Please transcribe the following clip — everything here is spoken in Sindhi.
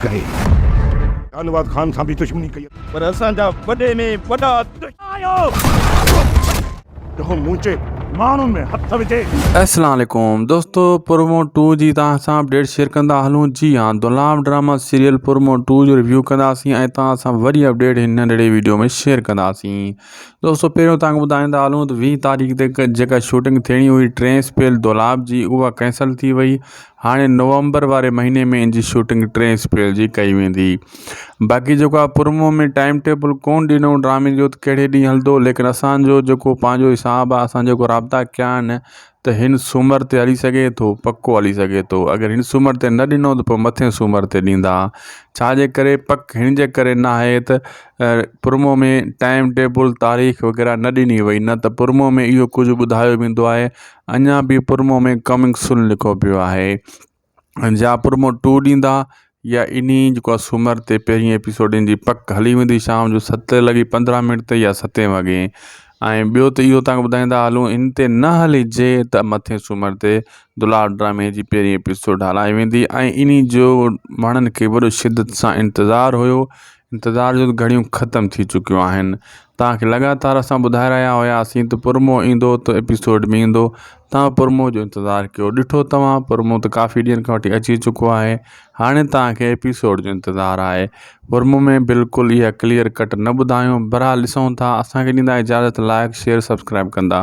ڪري شاهنواز خان سان به دشمني ڪئي. پر اسان جا وڏي ۾ وڏا دشمن آهيو. جيڪو منهنجي ماڻهن ۾ هٿ وجهي. اسلام عليڪم دوستو پرومو ٽو جي توهان سان اپڊيٽ شيئر ڪندا هلون جي ها دولام ڊراما سيريل پرومو ٽو جو ريويو ڪنداسين ۽ توهان سان وڏي اپڊيٽ هن ننڍڙي ويڊيو ۾ شيئر ڪنداسين دوستو پهريون توهان کي ٻڌائيندا هلون ته ويهه تاريخ تي جيڪا شوٽنگ ٿيڻي هئي ٽي اپريل دولاب جي اها ڪينسل ٿي وئي هاڻي نومبر واري مهيني ۾ ان جي شوٽنگ ٽين اپريل جي ڪئي ويندي باقي جيڪو آ پرمو ۾ ٽائم ٽيبل ڪون ڏنو ڊرامي جو ڪهڙي ڏينهن هلندو ليڪن اسان جو جيڪو پنهنجو حساب آ اسان جيڪو رابطا ڪيا آهن ته هن سومر تي هلي سگهي ٿو پڪو هلي سگهي ٿو اگر هن سومر تي نه ڏنو ته پوء مٿين سومر تي ڏيندا ڇا جي ڪري پڪ هن جي ڪري نه آهي ته پرمو ۾ ٽائم ٽيبل تاريخ وغيره نه ڏني وئي نه ته پرمو ۾ اهو ڪجهه ٻڌايو ويندو آهي اڃا به پرمو ۾ ڪمنگ سون لکو پيو آهي ۽ جا پرمو ٽو ڏيندا يا انهي جيڪو آهي سومر تي پهرين ايپيسوڊ جي پڪ هلي ويندي شام جو ست لڳي پندرهن منٽ تي يا ستين وڳي ۽ ٻيو ته اهو تانکي ٻڌائيندا هلون ان تي نه هلي جي ته مٿين سومر تي دلال ڊرامي جي پهرين ايپيسوڊ هلائي ويندي ۽ انهي جو ماڻهن کي وڏو شدت سان انتظار هيو انتظار جون گهڙيون ختم ٿي چڪيون آهن توهان کي لڳاتار اسان ٻڌائي رهيا هياسين ته پرمو ايندو ته ايپيسوڊ به ايندو توهان پرمو جو انتظار ڪيو ڏٺو توهان پرمو ته ڪافي ڏينهن کان وٺي اچي چڪو آهي هاڻي توهان کي ايپيسوڊ جو انتظار آهي پرمو ۾ بلڪل اها ڪليئر ڪٽ نه ٻڌايون برحال ڏسون ٿا اسان کي ڏيندا اجازت لائڪ شيئر سبسڪرائب ڪندا